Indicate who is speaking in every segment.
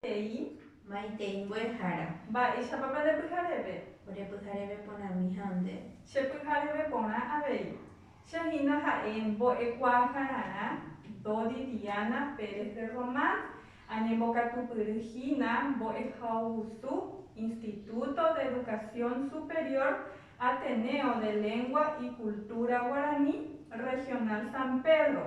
Speaker 1: He'i maitei mbo'ehára. Mba'éichapapa nde pyhareve? Ore pyhareve porãmi ha nde. Che pyhareve porã avei. Che hína ha'e mbo'ekuaakararã Dodi Diana Pérez de Román, añembokatupyry hína mbo'ehaugusu Instituto de Educación Superior Ateneo de Lengua y Cultura Guaraní Regional San Pedro,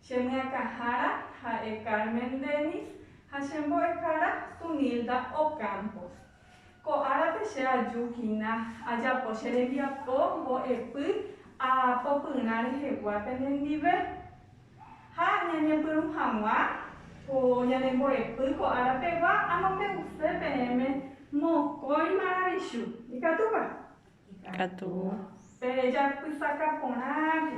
Speaker 1: Che myakãhára ha'e Carmen Dennis ha che mbo'ehára Tunilda Ocampos. Ko árape che aju hína ajapo che rembiapo mbo'epy aapo pyrã rehegua penendive. Ha ñañepyrũ hag̃ua ko ñane mbo'epy ko ára pegua amombe'use peẽme mokõi maravichu. Ikatúpa? Ikatu. Pe rejapysaka porãke.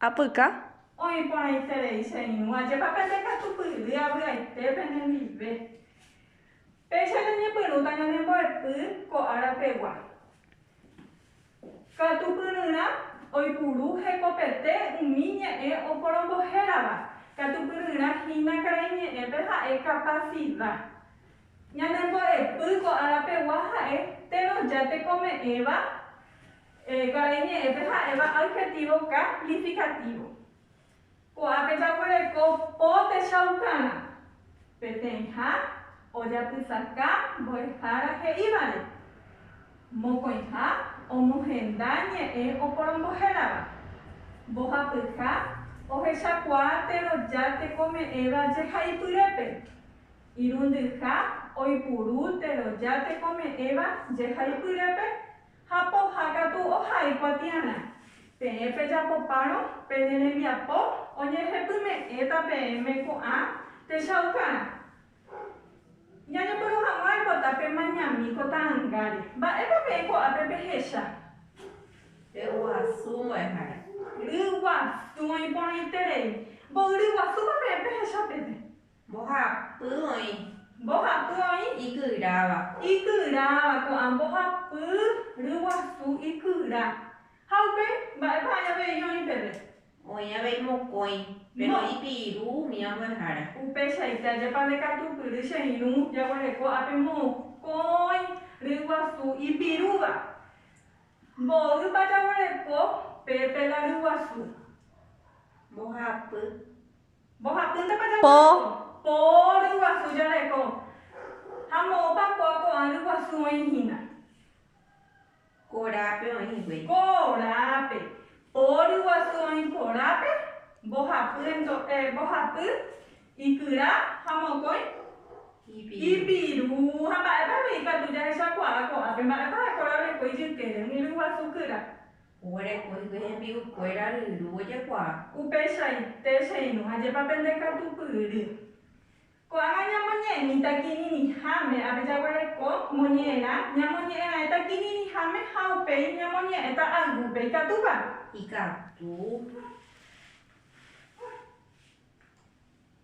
Speaker 1: apyka. Oĩ porãiterei che irũ, ajépa pende katupyry avy'aite penendive. Péicha jañepyrũta ñane mbo'epy ko ára pegua. Katupyryrã oipuru hekopete umi ñe'ẽ oporombohérava, katupyryrã hína karai ñe'ẽpe ha'e kapasida. Ñane mbo'epy ko ára pegua ha'e térõ ja tekome'ẽva Karai ñe'ẽpe ha'éva adjetivo calificativo. Ko'ápe jaguereko po techaukágã peteĩha ojapysaka mbo'ehára he'ívare. Mokõiha omohenda ñe'ẽ oporombohérava. Mbohapyha ohechakuaa teroja tekome'ẽva jehaipyrépe. Irundyha oipuru teroja tekome'ẽva jehaipyrépe Ha pohã katu ohai kuatiarã. Peẽ pejapopárõ pene rembiapo oñehepyme'ẽta peẽme ko'ã techaukarã. Ñañepyrũ hag̃ua aipota pemañami ko ta'angáre. Mba'épa peẽ ko'ápe pehecha? Pe guasu mbo'ehára. Ryguasu oĩporãiterei. Mboyryguasúpa peẽ pehecha peve? Mbohapy oĩ. Mbohapy oĩ. Ikyráva. Ikyráva. Ko'ã mbohapy ryguasu ikyra. Ha upe, mba'épa oĩ avei oĩ peve? Oĩ avei mokõi, péro ipiru umi ambuehára. Upeichaite ajépa ndekatupyry che irũ jaguereko ápe mokõi ryguasu ipirúva. Mboýpa jaguereko pe pela ryguasu? Mbohapy. Mbohapýntapa jaguasu? Po. Po ryguasu jareko. Ha moõpa ko ko'ã ryguasu oĩ hína? Korápe oĩ hikuái. Korápe. Po ryguasu oĩ korápe, mbohapy ento, eh, mbohapy, ikyra ha mokõi? Ipiru. Ipiru. Ha mba'épa avei ikatu jahechakuaa ko'ápe? Mba'épa ha'ekuéra oreko ijykére umi ryguasu kyra? Oguerekói guy hembi'ukuéra ryru ojekuaa. Upeichaite che irũ, ajépa pende katupyry. Ko'ág̃a ñamoñe'ẽmíta kirirĩháme, ápe jaguereko moñe'ẽrã, ñamoñe'ẽra'ẽta kirirĩháme ha upéi ñamoñe'ẽta aygúpe. Ikatúpa? Ikatu.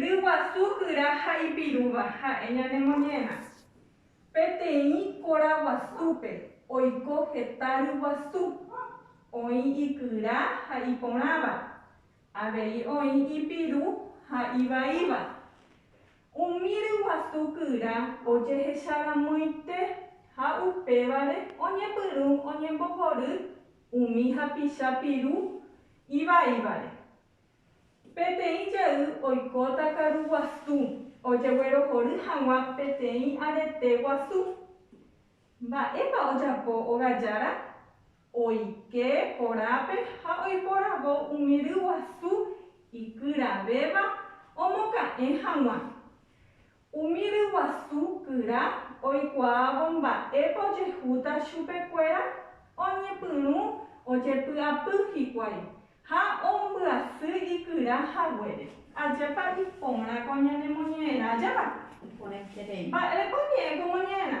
Speaker 1: Ryguasu guyra ha ipirúva ha'e ñane moñe'ẽrã. Peteĩ kóra guasúpe oiko heta ryguasu, oĩ ikyra ha iporãva, avei oĩ ipiru ha ivaíva. Umi ryguasu guyra ojehecha ramoite ha upévare oñepyrũ oñembohory umi hapicha piru ivaívare. Peteĩ jey oikóta karu guasu ojeguerohory hag̃ua peteĩ arete guasu. Mba'épa ojapo óga jára? Oike korápe ha oiporavo umi ry guasu ikyravéva omoka'ẽ hag̃ua. Umi ryguasu kyra oikuaávo mba'épa ojehúta chupekuéra oñepyrũ ojepy'apy hikuái ha ombyasy ikyra haguére. Ajépa iporã ko ñanemoñe'ẽrã? Ajépa iporãiterei. Mba'érepa oñe'ẽ ko moñe'ẽrã?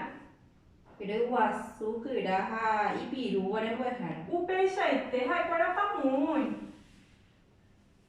Speaker 1: Ryguasu kyra ha ipirúva rembo'ehára. Upeichaite ha'ekuéra pamo'õi.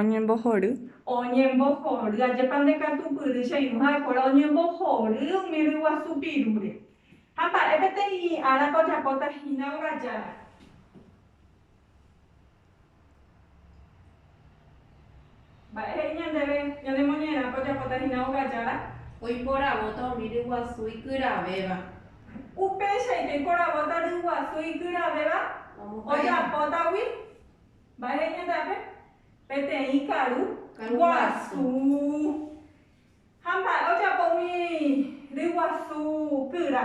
Speaker 1: Oñembohory. Oñembohory. Ajépa ndekatupyry che irũ ha'ekuéra oñembohory umi ryguasu pirúre. Ha mba'e peteĩ árape ojapóta hína óga jára. Mba'e he'i ñandéve ñane moñe'ẽrápe ojapóta hína óga jára? Oiporavóta umi ryguasu ikyravéva. Upeichaite oiporavóta ryguasu ikyravéva ojapótagui. Mba'e he'i ñande'ápe? Peteĩ karu guasu. Ha mba'e ojapo umi ryguasu kyra?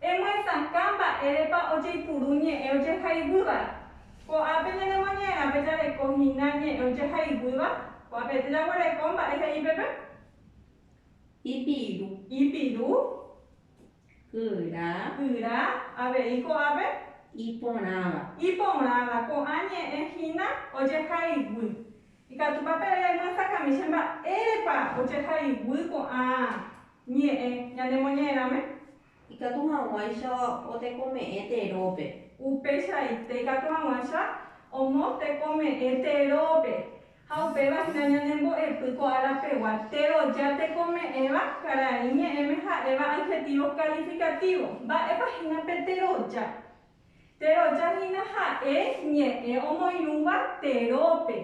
Speaker 1: Emuesakã mba'érepa ojeipuru ñe'ẽ ojehaiguýva. Ko'ápe ñanemoñe'ẽrape jareko hína ñe'ẽ ojehaiguýva, ko'ápente jaguereko mba'e he'i peve. Ipiru. Ipiru. Kyra. Kyra. Avei ko'ápe. Iporãva. Iporãva. Ko'ã ñe'ẽ hína ojehaiguy. Ikatúpa peve remuesakãmi che mba'érepa ojehaiguy ko'ã Ñe'ẽ ñanemoñe'ẽrãme. Ikatu hag̃uáicha otekome'ẽ terópe. Upeichaite ikatu hag̃uáicha omotekome'ẽ terópe. Ha upéva hína ñanembo'epy ko ára pegua téro jatekome'ẽva karai ñe'ẽme ha'éva adjetivo calificativo. Mba'épa hína pe teroja? Teroja hína ha'e ñe'ẽ omoirũva terópe.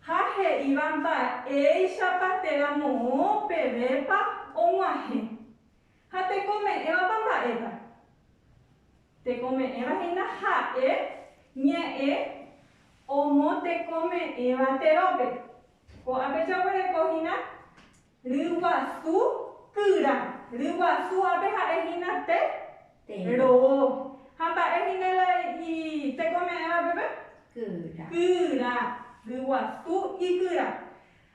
Speaker 1: Ha he'íva mba'éichapa térã moõ pevépa og̃uahẽ. Ha tekome'ẽvapa mba'épa? Tekome'ẽva hína ha'e ñe'ẽ omotekome'ẽva terópe. Ko'ãpe jaguereko hína Ryguasu kyra. Ryguasu ápe ha'e hína te ro'o. Ha mba'e hína la itekome'ẽva peve? Kyra. Kyra. Ryguasu ikyra.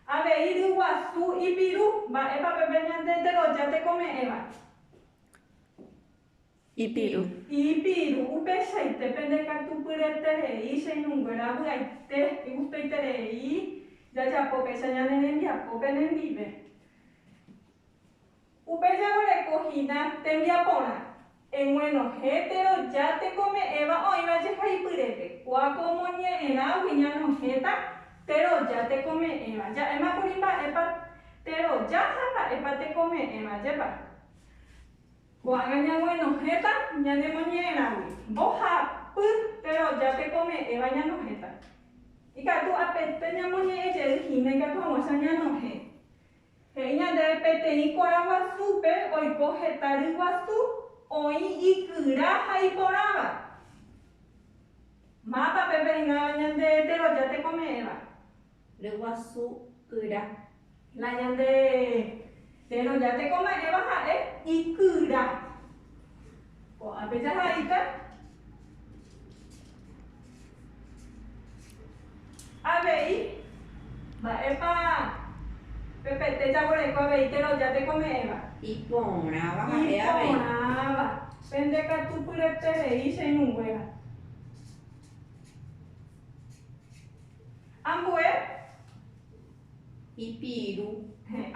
Speaker 1: Avei ryguasu ipiru. Mba'épa pe pe ñande teroja tekome'ẽva? Ipiru. Ipiru, upeichaite pende katu pyreterei che irũnguéra vy'aite, igustoiterei jajapo péicha ñane rembiapo penendive. Upe jaguereko hína tembiaporã, eguenohẽ térõ ja tekome'ẽva oĩva jehaipyrépe, kua ko omoñe'ẽrãgui ñanohẽta térõ ja tekome'ẽva, ja'émakuri mba'épa térõ ja ha mba'épa tekome'ẽva, jepa. Ko'ág̃a ñaguenohẽta ñanemoñe'ẽrãgui mbohapy teroja tekome'ẽva ñanohẽta. Ikatu apete ñamoñe'ẽ jey hína ikatu hag̃uáicha ñanohẽ. He'i ñandéve peteĩ korã guasúpe oiko heta ry guasu oĩ ikyra ha iporãva. Mátape peináva ñande teroja tekome'ẽva? nde guasu kyra. La ñande térõ ja teko ma'ẽva ha'e ikyra. Ko'ãpe jahaita avei mba'épa pe pete jaguereko avei térõ ja teko me'ẽva. Iporãva ha'e avei. Iporãva. Pende katu pyreterei che ñuguéra. Ambue ipiru.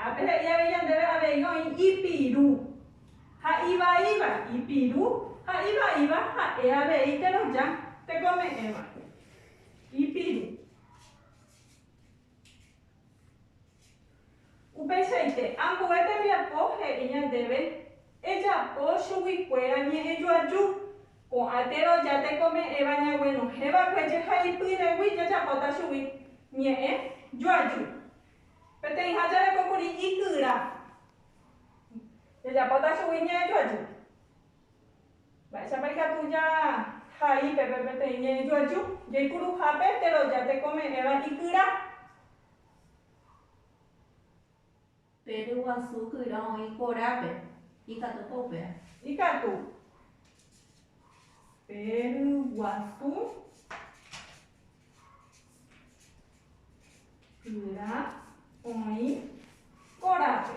Speaker 1: Ápe he'i avei ñandéve avei oĩ ipiru ha ivaíva. Ipiru ha ivaíva ha'e avei teroja tekome'ẽva. Ipiru. Upeichaite, ambue tembiapo he'i ñandéve, Ejapo chuguikuéra ñe'ẽ joaju. Ko'ã térã ja tekome'ẽva ñaguenohẽ va'ekue jehaipyregui jajapóta chugui ñe'ẽ joaju. Peteĩha jareko kuri ikyra, jajapóta chugui ñe'ẽ joaju. Mba'éichapa ikatu jahai pe peteĩ ñe'ẽ joaju? Jaipuruhápe térã ja tekome'ẽva ikyra. Pe ryguasu kyra oĩ korápe. Ikatúpa upéva? Ikatu. Pe ryguasu kyra oĩ korápe.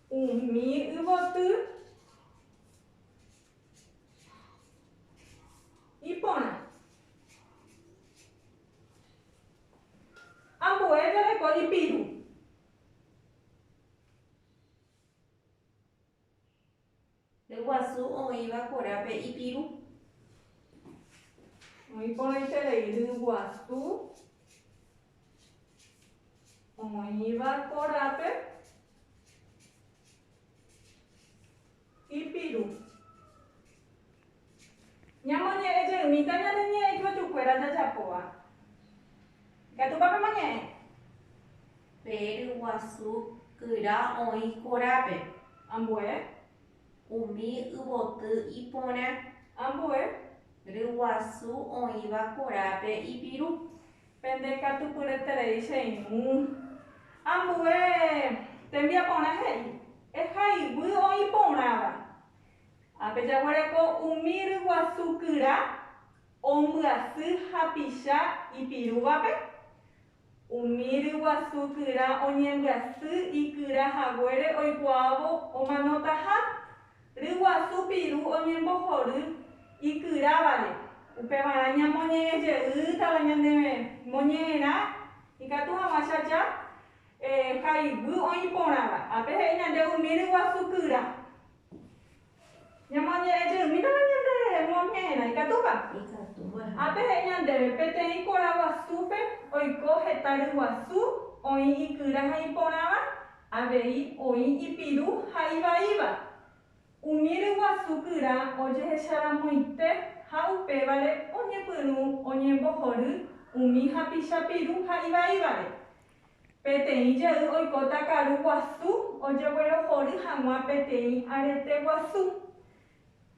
Speaker 1: Umi yvoty iporã. Ambue jareko ipiru. Ryguasu oĩva korápe ipiru. Oĩ porãiterei ryguasu oĩva korápe ipiru. Ñamoñe'ẽ jeymíta ñane ñe'ẽ ipy'atykuéra jajapóva. Ikatúpa pemoñe'ẽ? Pe ryguasu kyra oĩ korápe. Ambue. Umi yvoty iporã. Ambue. Ryguasu oĩva korápe ipiru. Pende ikatupyreterei cheymu. Ambue. Tembiaporã he'i, Eha iguy oĩ porãva. Ha pejaguereko umi ryguasu kyra ombyasy hapicha ipirúvape, umi ryguasu kyra oñembyasy ikyra haguére oikuaávo omanotaha, ryguasu piru oñembohory ikyrávare, upevarã ñamoñe'ẽjeýtava ñandéve moñe'ẽrã ikatu hag̃ua che aja ha iguy oĩ porãva. Ha pehe'i ñande umi ryguasu kyra Ñamoñe'ẽ jeýmintema ñanderehe moñe'ẽrã. Ikatúpa? Ikatúva. Ha pehe'i ñandéve, Peteĩ porã guasúpe oiko heta ryguasu oĩ ikyra ha iporãva, avei oĩ ipiru ha ivaíva. Umi ryguasu kyra ojehecharamoite ha upévare oñepyrũ oñembohory umi hapicha piru ha ivaívare. Peteĩ jey oikóta karu guasu ojeguerohory hag̃ua peteĩ arete guasu.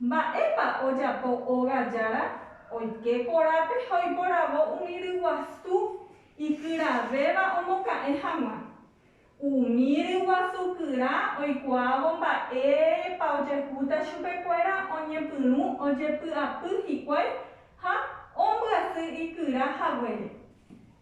Speaker 1: Mba'épa ojapo óga jára? Oike korápe ha oiporavo umi ryguasu ikyravéva omoka'ẽ hag̃ua. Umi ryguasu kyra oikuaávo mba'épa ojehúta chupekuéra oñepyrũ ojepy'apy hikuái ha ombyasy ikyra haguére.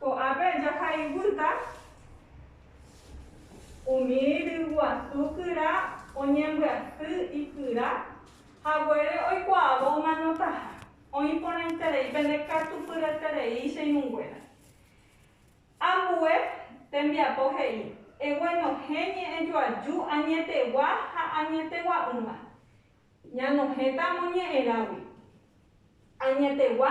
Speaker 1: Ko'ápe jaha ivýta umi ryguasu kyra oñembyaty ikyra haguére oikuaávo omanotaha, oĩ porãiterei pene katupyryeterei che irũnguéra. Ambue tembiapo he'i, Eguenohẽ ñe'ẽjoaju añetegua ha añetegua'ỹva. Ñanohẽta amoñe'ẽrágui. Añetegua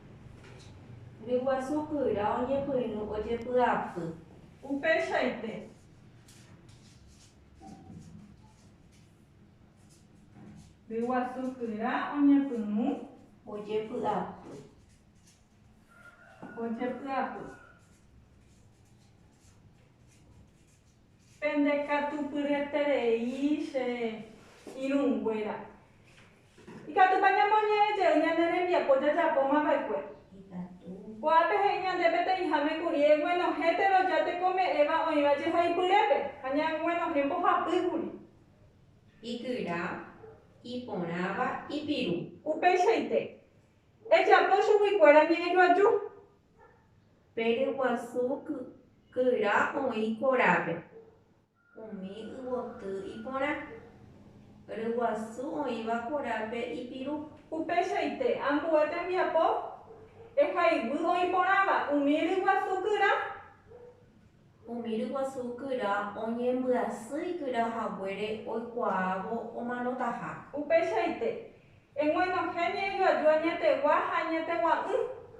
Speaker 1: Ryguasu kyra oñepyrũ ojepy'apy. Upeichaite. Ryguasu kyra oñepyrũ ojepy'apy. Ojepy'apy. Pende katu pyreterei che irũnguéra. Ikatúpa ñamoñe'ẽ jey ñane rembiapo jajapóma va'ekue? Ko'ápe he'i ñande peteĩháme kuri eguenohẽ teroja tekome'ẽva oĩva jehaipyrépe ha ñaguenohẽ mbohapy kuri. Ikyra, iporãva, ipiru. Upeichaite, ejapo chuguikuéra ñe'ẽjoaju. Pe ryguasu kykyra oĩ korápe. Umi yvoty iporã. Ryguasu oĩva korápe ipiru. Upeichaite ambue tembiapo ehayguy oĩ porãva umi ryguasu kyra. Umi ryguasu kyra oñembyasy ikyra haguére oikuaávo omanotaha. Upeichaite eguenohẽ ñe'ẽjoaju añetegua ha añetegua'ỹ.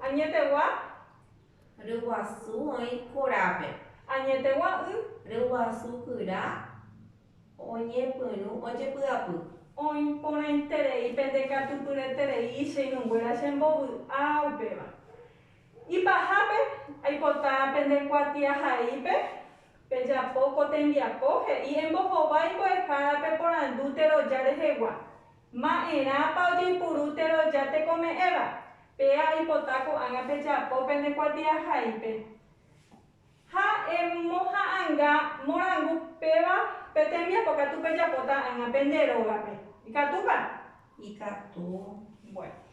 Speaker 1: Añetegua. Ryguasu oĩ korápe. Añetegua y. Ryguasu kyra oñepyrũ ojepy'apy. Oĩ porãiterei pende katupyreterei icheinunguéra chembovy'a upéva. Ipahápe, aipota pende kuatiahaípe pejapo ko tembiapo he'i embohovái mbo'ehára peporandu teroja rehegua. Ma'erãpa ojeipuru teroja tekome'ẽva? Péa aipota ko'ág̃a pejapo pene kuatiahaípe. Ha emoha'ãnga morangu péva pe tembiapo katu pejapota ág̃a pende rógape. Ikatúpa? Ikatu. Bueno.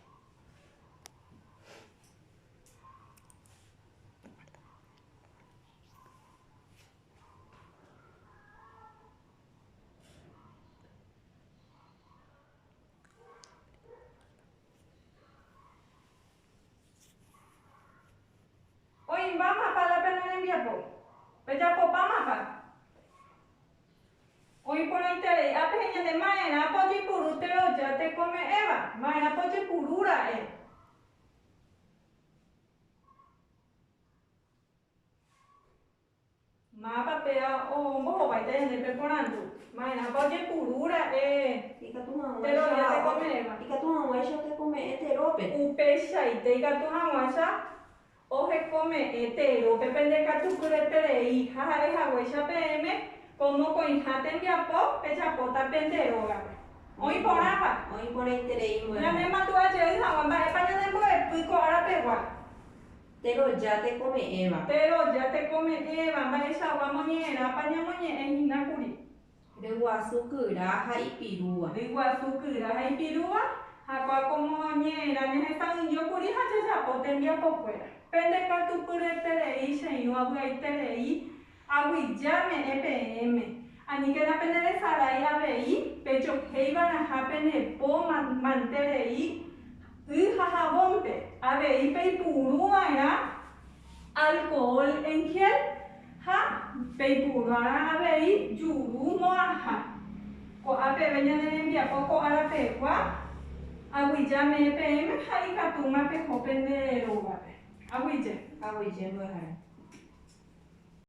Speaker 1: Oĩmbámapa la pene rembiapo? Pejapopámapa? Oĩporãiterei ápe heñande ma'erã pojepuru teroja tekome'ẽva, ma'erã pojepuru ra'e. Máva pe ao ombohováita ñande pe porandu? Maerãpa ojepuru ra'e pe rovia tekome'ẽva? Ikatu hag̃uáicha tekome'ẽ terópe. Upeichaite ikatu hag̃uáicha ohekome'ẽ terópe pende katu pyreterei ha ha'e haguéicha peẽme ko mokõiha tembiapo pejapóta pende rógape. Oĩ porãpa? Oĩ porãiterei mbo'eha. Ñanemandu'a jey hag̃ua mba'épa ñanembo'epy ko ára pegua. Péro ja tekome'ẽva. Péro ja tekome'ẽva. Mba'eichagua moñe'ẽrápa ñamoñe'ẽ hína kuri. Ryguasu kyra ha ipirúva. Ryguasu kyra ha ipirúva. Jakuaa ko moñe'ẽra ñahesa'ỹijo kuri ha jajapo tembiapokuéra. Pende katu pyreterei che irũ avy'aiterei. Aguyja me'ẽ peẽme, aníkena peneresarái avei pejohéiva'erãha pene po mante rei y ha javónte, avei peipuruva'erã alkohol en gel ha peipuruva'erã avei juru mo'ãha. Ko'ã peve ñane rembiapo ko ára pegua, aguyja me'ẽ peẽme ha ikatúma peho pende rógape. Aguyje. Aguyje mbyahare.